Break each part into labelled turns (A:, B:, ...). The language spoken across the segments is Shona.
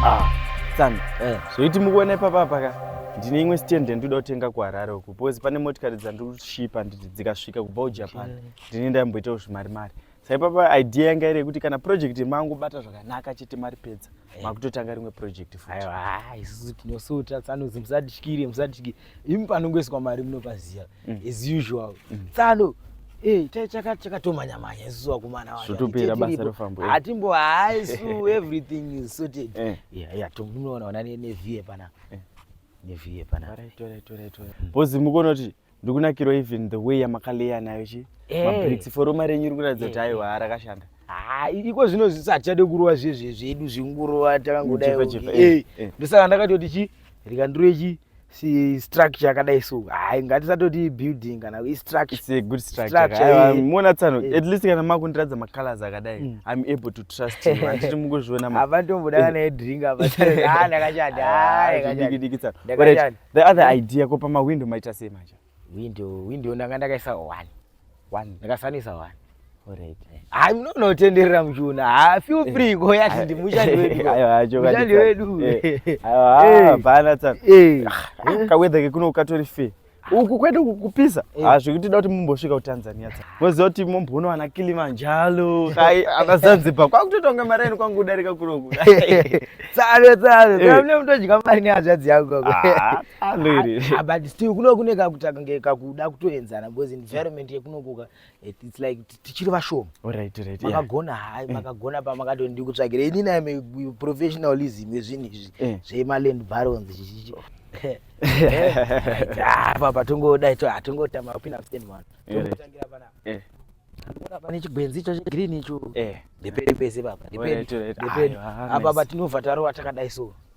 A: Ah, Sami, eh. zvoiti mukuona ipapa paka ndine imwe stand ndinoda kutenga kuharare uku because pane motikari dzandiri kushipa handiti dzikasvika kubva kujapan ndine ndamboitawo zvimari mari saipapa idea yanga iri yekuti kana project mangobata zvakanaka chete mari pedza makutotanga rimwe project futi Aiwa, ah, isusu
B: tinosuta tsano musadikire musadikire imi panongoiswa mari munopaziva mm. as usual mm. tsano eh, chakatomanya manya isusu vakomana vazvotopera basa rofambo
A: eh. hatimbo haisu
B: everything is sorted eh. tomunoona ona nevie pana nevie pana
A: bhozi mukonoti ndikunakirwa even the way yamakaleya nayo chi mabricks foroma renyu iri kuratidza kuti aiwa arakashanda Ah, iko zvino
B: zvisiatichade kurova zviye zviye zvedu zvingurova takangodai eh, eh. ndosaka ndakatoti chi rikandiroechi si structure yakadai so hayi ngatisatoti building kana istructuremuona
A: tsano eh. at least kana makundiratidza macolors akadai mm. i'm able to trust you handiti mukuzviona havatomboda kana edrink
B: eh. apandakachadidikitsano
A: ah, ah, the other idea ko pamawindo maita sei manje window window
B: ndanga ndakaisa one one ndakasanisa one alright
A: hayi munonotenderera
B: muchiona ha feel eh. free ko yati ndimushandi wedu mushandi wedu eh. eh.
A: bana tsana ah, kawedha kekuno ukatori fee uku kwete kupisa ha zvekuti da kuti mumbosvika kutanzania tsana moziva kuti momboona ana kilimanjalo kai ana zanzibar kwakutotonga mari yenu kwangu kudarika kunoku tsare
B: tsare tsare mune mutodya mari nehazvadzi yangu ah, Andiri. Ah, ah, but still kuno kune kakutaka ngekakuda kutoenzana because environment yekunokuka it's like tichiri vashoma. Alright, right. Makagona
A: hai, eh.
B: makagona pa makato ndi kutsvagira ini na me professionalism yezvinhu izvi eh. zvema land barons chichichi. Apa eh. patongoda ito atongotama ah, kupinda msiteni mwana. Tongotangira pana. Eh. Unoona pane chigwenzi icho chegreen icho. Eh. Ndipede pese baba. Ndipede. Ndipede. Apa patinobva tarowa takadai so.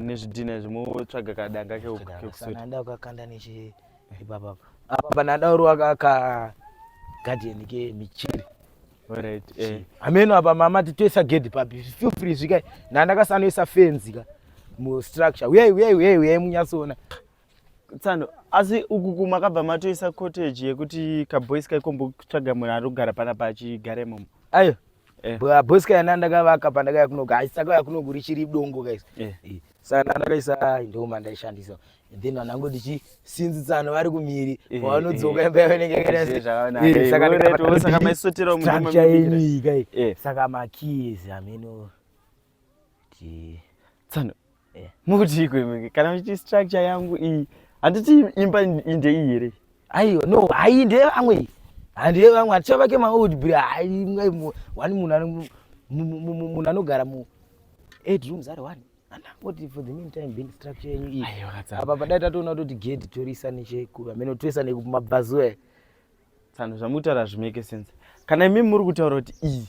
B: nezvidhina
A: izvi motsvaga kadanga kekusotaanda ukakanda
B: nechi ipapa apa panadaurwa kaka gadheni ke michiri eh.
A: hameno
B: apa mama titoisa gedhi papi feel free zvikai nandakasanoisa fenzi ka mustructure uyai uyai uyai uyai munyatsoona tsano
A: asi uku kuma kabva matoisa cottage yekuti kaboys kaikombotsvaga munhu ari kugara pana pachigare momo ayo
B: eh. boys kayana ndakavaka pandakaya kunoga aisakaya kunogu richiri dongo guys eh. eh. saka ndandakaisa ndo mandaishandisa then vanango ndichi sinzi tsano vari kumhiri pavanodzoka imba yavenengeaisotera
A: mumaikai
B: saka makies ameno
A: tsano eh. mukuti ikwe kana muchiti structure yangu iyi handiti imba inde iyi here aiwa no hayi
B: ndeye vamwe iyi handiye vamwe haticha vake maold bri wani munhu anogara mu eight rooms ari one andangoti for the meantime being structure yenyu iyi apa padai tatoona toti gedi torisa nechekuameno toisa nekumabvazuva tsano
A: zvamutaura zvimeke sense kana imi muri kutaura kuti iyi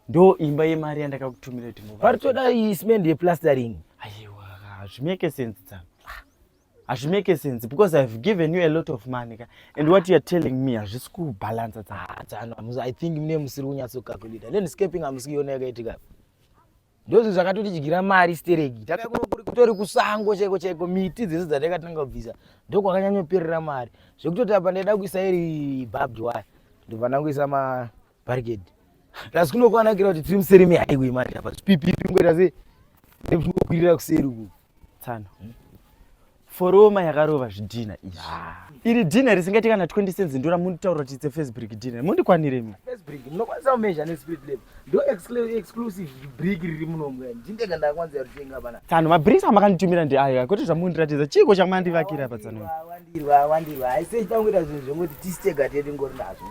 A: ndo imba yemari yandakakutumira kuti varitoda ismend
B: yeplastering aiwa hazvimeke
A: sense tsano hazvimeke sense because ihave given you a lot of money ka and what youare telling me hazvisi kubhalansa tsano ah, i
B: think mune musiri kunyatsokakulita landscaping hamusikuiona yakaitika ndozvinhu zvakatotidyira mari stereki takakutori kusango chaiko chaiko miti dzese dzatakatanga kubvisa ndokwakanyanyopirira mari zvekutoti apa ndaida kuisa iri babd waya ndobva ndangoisa mabarikedi plus kunokwanakira kuti tiri museri mehaiway manje apa zvipipipi ngoita se nekuti kungokwirira kuseri uku tsano
A: foroma yakarova zvidhina izvi ah. iri dhina risingaite kana 20 cents ndora munditaura kuti itse first brick dhina mundikwanire mi first brick munokwanisa
B: kumezha nespirit level ndo exclusive brick riri munomu ndindega ndakwanisa kutenga pana tsano mabricks amakanditumira
A: ndi ayo kwete zvamundiratidza chiiko chamandivakira pa tsano wandirwa wandirwa
B: aise tangoita zvinhu zvekuti tisitega tedu ngori nazvo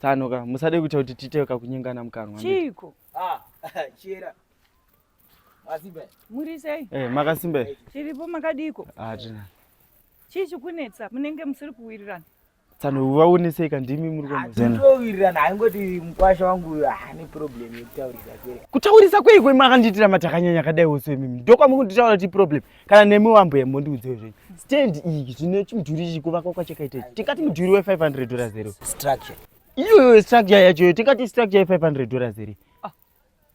B: tsano ka musade
A: kuita kuti titewe kakunyengana mukanwa chiiko ah
C: chera
B: Muri sei?
C: Eh, makasimba.
A: Chiripo makadiko?
C: Ah, tina.
A: Chii
C: chikunetsa? Munenge musiri kuwirirana? Tsano
A: vaoneseka ndimi muri kwamazena. Towirirana haingoti
B: mkwasha wangu ane problem yekutaurisa kwei. Kutaurisa kwei kwei
A: makandiitira matakanyanya kadai wose mimi. Ndokwa mukunditaura ti problem. Kana nemi wambo yembo ndiudze zvenyu. Stand iyi zvine chimudhuri ichi kuvakwa kwachakaita ichi. Tikati
B: mudhuri
A: we 500 dollars zero. Structure. Iyo structure yacho tikati structure ye 500 dollars zero. Ah.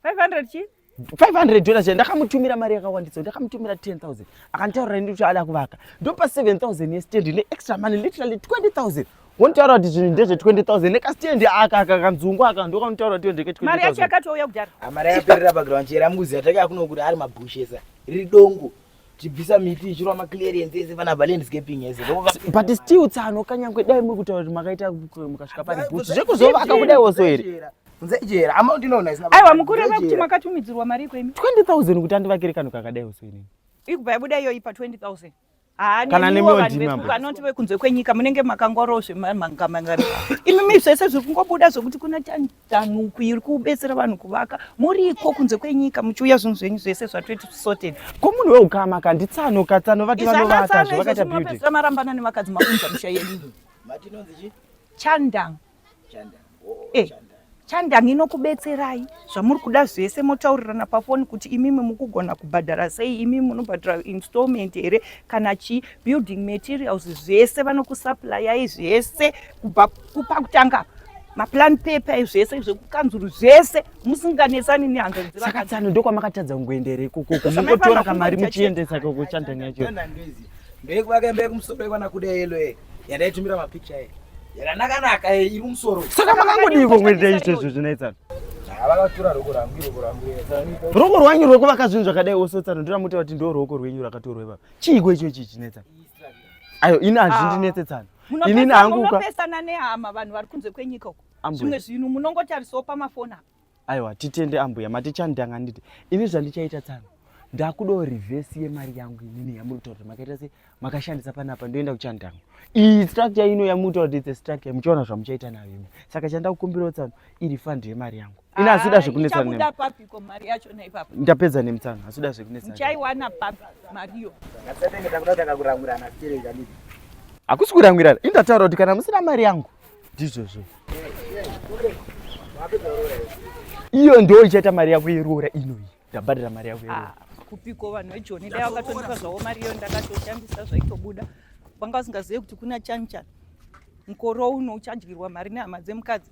A: 500
C: chi 500 dollars
A: ndakamutumira mari yakawandisa ndakamutumira 10000 akanditaurira ndi kuti ada kuvaka ndopa 7000 yestand ne extra money literally 20000 wontaura kuti zvinhu ndezve 20000 nekastiendi aka aka kanzungu aka ndokanutaura kuti ndeke 20000 mari yacho yakatouya kudhara
C: ah, mari yaperera background
B: chera mukuziva take akunokuti ari mabhushesa riri dongo chibvisa miti ichirwa maclearance ese vana valandscaping ese but still
A: tsano kanyangwe dai muri kutaura kuti makaita mukasvika pane bhutsu zvekuzovaka kudai oso here
B: aiwa mukureva kuti
C: makatumidzirwa mari iko imi 20000 kuti andivakire
A: kanhu kakadai oso inini ikubva yabuda iyoyi
C: pa 20000 kana
A: nemiwanoti vekunze
C: kwenyika munenge makangwaroo zvemamangamangari imi mi zvese zviri kungobuda zvekuti kuna Danho uku iri kubetsera vanhu kuvaka muriko kunze kwenyika muchiuya zvinhu zvenyu zvese zvatweti sorted. Ko munhu weukama
A: ka nditsano ka tsano vati vanovaka zve vakaita building. Izvakatsano marambana nevakadzi
C: maunza musha yedu. Matinonzi chi?
B: Chandang.
C: Chandang.
B: Oh, eh. Chandang.
C: chandang inokubetserai zvamuri kuda zvese motaurirana pafoni kuti imimi mukugona kubhadhara sei imimi munobhadhara installment here kana chii building materials zvese vanokusupplyai zvese kubva kupa kutanga maplan paper zvese zvekukanzuru zvese musinganetsani nehanzari dzesaka tsano ndokwamakatadza
A: kungoendera ikokoko mungotora kamari muchiendesa kokuchandani yacho ndekuvake
B: mbe kumusoro ikwana kuda yelo e yandaitumira mapikicha e yakanakanaka e iri musoro saka makangodii
A: kokuita izvo izvo zvinoitsano
B: ruoko
A: rwanyu rwekuvaka zvinhu zvakadai ose tsano ndoramutaura kuti ndo ruoko rwenyu rwakatorwa ipapa chiiko icho ichi chinetsano ayo ini hazvindinetsetsano inini hangu munopesana nehama
C: vanhu vari kunze kwenyika uko zvimwe zvinhu munongotarisawo pamafoni apa aiwa titende
A: ambuya matichandanga nditi ini zvandichaita tsano ndakudawo revhesi yemari yangu inini yamuri kutaura kuti makaita se makashandisa panapa ndoenda kuchandanga iyi structure ino yamuri kutaura kuti its a structure muchaona zvamuchaita nayo imi saka chandakukumbirawo tsano iri fund yemari yangu Ini hazvida zvekunetsana nemi. Ichabuda papi ko mari
C: yacho na ipapo? Ndapedza nemtsana, hazvida
A: zvekunetsana. Uchaiwana papi
C: mari yo? Ngatsetenge takuda
B: takakurangurana sterei kanidi. Hakusi
A: kurangurana, indataura kuti kana musina mari yangu ndizvozvo. Iyo ndio ichaita mari yako yeroora inoyi. ndabhadhira mari yako ah, kupiko vanhu
C: vejoni dai vakatondipa zvavo mari iyo ndakatoshandisa zvaitobuda vanga vasingazive kuti kuna chani chani mukoro uno uchadyirwa mari nehama dzemukadzi